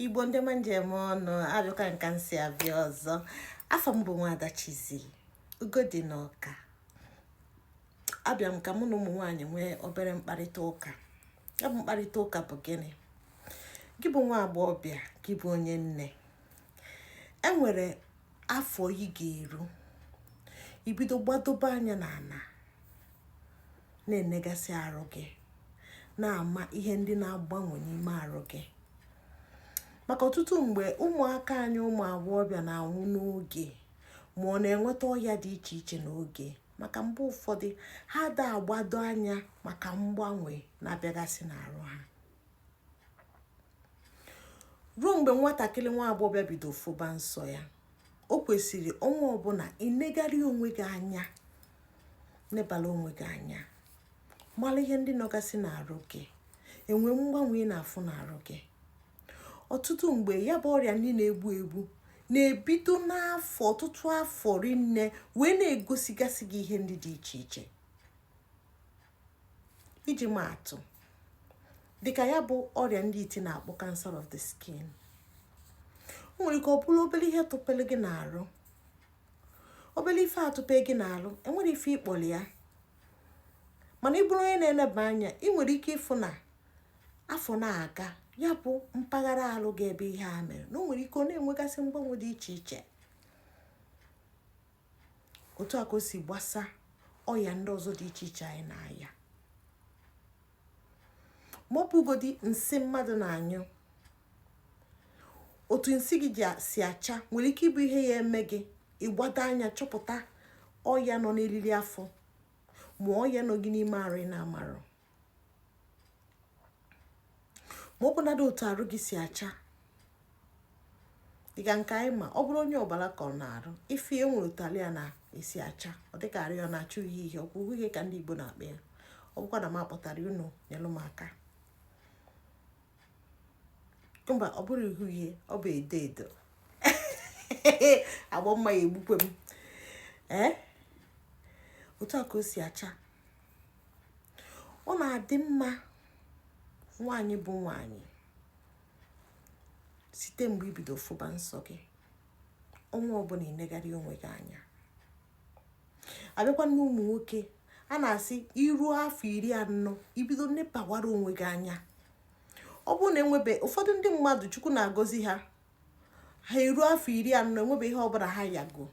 igbo ndị ọma m ji eme ọnụ abịakwa m ka m si abịa ọzọ afa m bụ nwada Chizzy Ugodi na Ọka abịa m ka mụ na ụmụ nwaanyị nwee obere mkparịta ụka ya bụ mkparịta ụka bụ gịnị gị bụ nwa agbọghọbịa gị bụ onye nne enwere afọ ị ga-eru ibido gbadobe anya n'ala na-enegasị arụ gị na-ama ihe ndị na-agbanwe n'ime arụ gị maka ọtụtụ mgbe ụmụaka anyị ụmụ agbọghọbịa na-anwụ n'oge ma na-enweta ọya dị iche iche n'oge maka mgbe ụfọdụ ha ada agbado anya maka mgbanwe na-abịagasị n'arụ ha ruo mgbe nwatakịrị nwa agbọghọbịa bido fụba nsọ ya o kwesịrị ọnwa ọbụla inegharị onwe gị anya nebala onwe gị anya mara ihe ndị nọgasị n'arụ gị enwee mgbanwe ị na-afụ n'arụ gị ọtụtụ mgbe ya bụ ọrịa ndị na-egbu egbu na-ebido n'afọ ọtụtụ afọ rinne wee na-egosigasị gị ihe ndị dị iche iche iji maa atụ dịka ya bụ ọrịa ndị iti na-akpọ cancer of the skin o nwere ike ọ bụrụ obere ihe tụpere gị n'arụ obere ife atụpe gị n'arụ enwerọ ife ị kpọrọ ya mana ị bụrụ onye na-eneba anya ị nwere ike ịfụ na afọ na-aga ya bụ mpaghara alụ gị ebe ihe a mere na o nwere ike ọ na-enwegasị mgbanwe dị iche iche otu a ka o si gbasa ọya ndị ọzọ dị iche iche anyị na-aya ma ọ bụgodi nsị mmadụ na-anyụ otu nsị gị si acha nwere ike ịbụ ihe ya-eme gị ịgbado anya chọpụta ọya nọ n'eriri afọ ma ọya nọ gị n'ime arụ ị na-amarọ ma ọ bụnadị otu arụ gị si acha dịka nke anyị ma ọ bụrụ onye ọbara kọrọ n'arụ ị fụ e nwere otu alụ ya na-esi acha ọ dịka arụ ya na-acha uhie uhie ọkwa uhie ka ndị Igbo na-akpọ ya ọ bụkwa na m akpọtarọ unu nyelụ m aka mba ọ bụrọ uhie uhie ọ bụ edo edo Igbo m a ya-egbukwe m ee otu a ka o si acha ọ na-adị mma nwaanyị bụ nwaanyị site mgbe ibido fụba nsọ gị ọnwa ọbụla inegharị onwe gị anya abịakwa na ụmụ nwoke a na-asị iruo afọ iri anọ ibido nebawara onwe gị anya ọ bụrụ na enwebe ụfọdụ ndị mmadụ chukwu na-agọzi ha ha eruo afọ iri anọ enwebe ihe ọbụla ha yago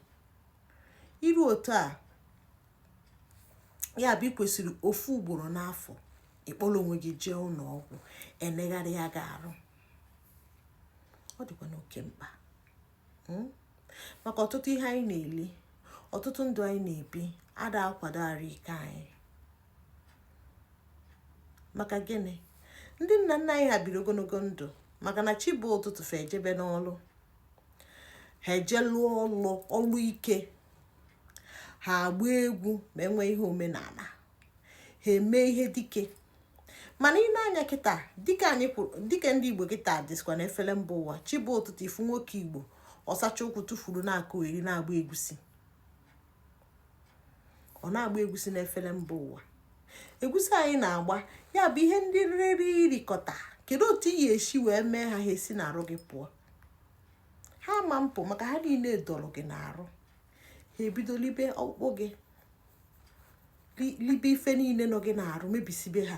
iru otu a ya bụ ikwesịrị ofu ugboro n'afọ ịkpọrọ onwe gị jee ụlọ ọgwụ enegharịa gị arụ ọ dịkwa n'oke mkpa hmm? maka ọtụtụ ihe anyị na-eli ọtụtụ ndụ anyị na-ebi ada akwado arụ ike anyị maka gịnị ndị nna nna anyị ha biri ogologo ndụ maka na chi bọọ ụtụtụ fa ejebe n'ọlụ ha eje lụọ ọlụ ọlụ ike ha agba egwu ma enwe ihe omenala ha eme ihe dike mana ị nee anya kịta dịka anyị kwuru dịka ndị igbo kịta dịsikwa na efere mba ụwa chi bọọ ụtụtụ ị fụ nwoke igbo ọ sachaa ụkwụ tukwuru na-akọgheri na-agba egusi ọ na-agba egwusi n'efere mba ụwa egwusi anyị na-agba ya bụ ihe ndị i riri i rikọta kedu otu i ya-esi wee mee ha ha esi n'arụ gị pụọ ha ma apụ maka ha niile dọrọ gị n'arụ ha ebido libe ọkpụkpụ gị libe ife niile nọ gị n'arụ mebisibe ha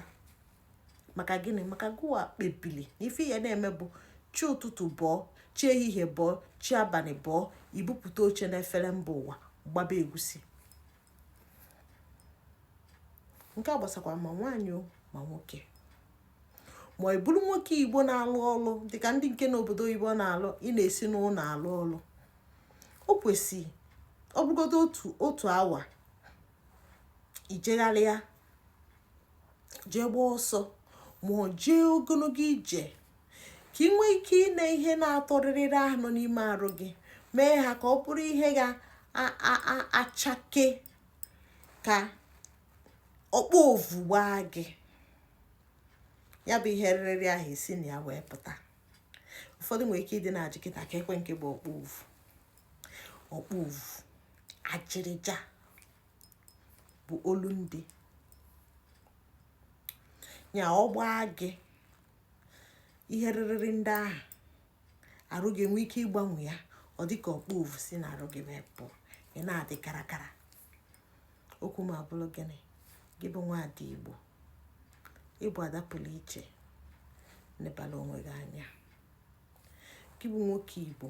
maka gịnị maka gụwa kpebili na ife ị ya na-eme bụ chi ụtụtụ bọọ chi ehihie bọọ chi abalị bọọ i bupụta oche na efere mba ụwa gbaba egusi nke a gbasakwa ma nwaanyị ma nwoke ma ị bụrụ nwoke igbo na-alụ ọlụ dịka ndị nke n'obodo oyibo na-alụ ị na-esi n'ụlọ alụ ọlụ o kwesịrị ọ bụgodo otu otu awa ijegharịa jee gbaa ọsọ ma ọ jee ogologo ije ka ị nwee ike ịna ihe na-atọ rịrịrị ahụ nọ n'ime arụ gị mee ha ka ọ bụrụ ihe ga-achake ka okpovu gbaa gị ya bụ ihe rịrị ahụ esi na ya wee pụta ụfọdụ nwere ike ịdị na-ajụ kịta keekwe nke bụ okpovu okpovu ajịrịja bụ olu ndị ya ọ gbaa gị ihe rịrịrị ndị ahụ arụ gị enwe ike ịgbanwe ya ọ dị ka okpovu si na arụ gị wee pụ ị na-adị karakara okwu m abụrụ gịnị gị bụ nwaada igbo ị bụ ada pụrụ iche nebala onwe gị anya gị bụ nwoke igbo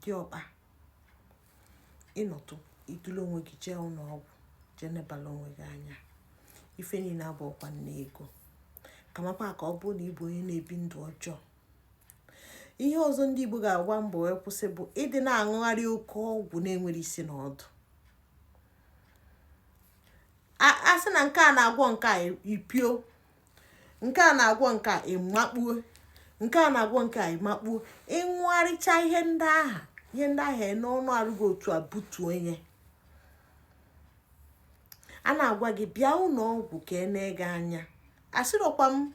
diọkpa ị nọtụ i dulu onwe gị jee ụlọ ọgwụ jee nebala onwe gị anya ife niile abụọkwa nne ego kamakwa ka ọ bụrụ na ị bụ onye na-ebi ndụ ọjọọ ihe ọzọ ndị Igbo ga-agba mbọ wee kwụsị bụ ịdị na-aṅụgharị oke ọgwụ na-enwerọ isi na ọdụ a sị na nke a na-agwọ nke a ipio nke a na-agwọ nke a ịmakpuo nke a na-agwọ nke a ịmakpuo ịṅụgharịcha ihe ndị ahụ ihe ndị ahụ n'ọnụ arụ gị otu a butu ihe a na-agwa gị bịa ụlọ ọgwụ ka e nee gị anya asịrọkwa m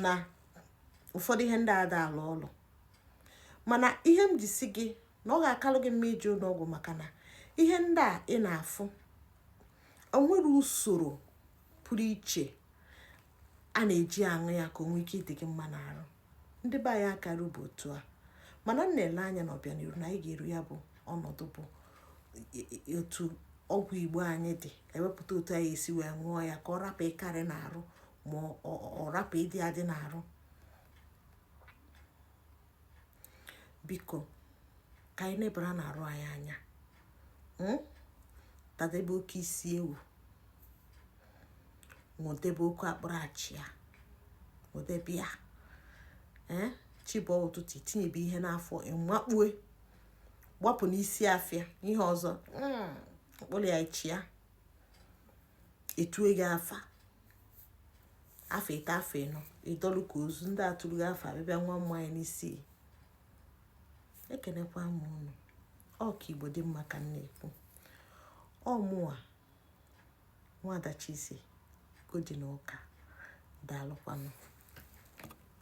na ụfọdụ ihe ndị a ada alụ ọlụ mana ihe m ji sị gị na ọ ga-akalụ gị mma ije ụlọ ọgwụ maka na ihe ndị a ị na-afụ o nwere usoro pụrụ iche a na-eji aṅụ ya ka o nwee ike ịdị gị mma n'arụ ndị be anyị akarube otu a mana m na-ele anya na ọbịaniru na anyị ga-eru ya bụ ọnọdụ bụ otu ọgwụ igbo anyị dị e wepụta otu anyị esi wee ṅụọ ya ka ọ rapụ ịkarị n'arụ ma ọ rapụ ịdị adị n'arụ biko ka anyị nebara na arụ anyị anya hmm? tadebe oke isi ewu ṅụdebe oke akpụrụ achịa ṅụdebe ya eh? chi bọọ ụtụtụ itinyebe ihe n'afọ ịmakpue gbapụ n'isi afịa ihe ọzọ hmm, akpụrụ achịa e tue gị afa afọ ịtọ afọ ịnọ ị dọlụ ka ozu ndị a turu gị afa abịa bịa ṅụa mmanya n'isi ekenekwa m unu ọ ka igbo dị mma ka m na-ekwu ọ mụwa nwada Chi isi godi na ụka daalụkwanụ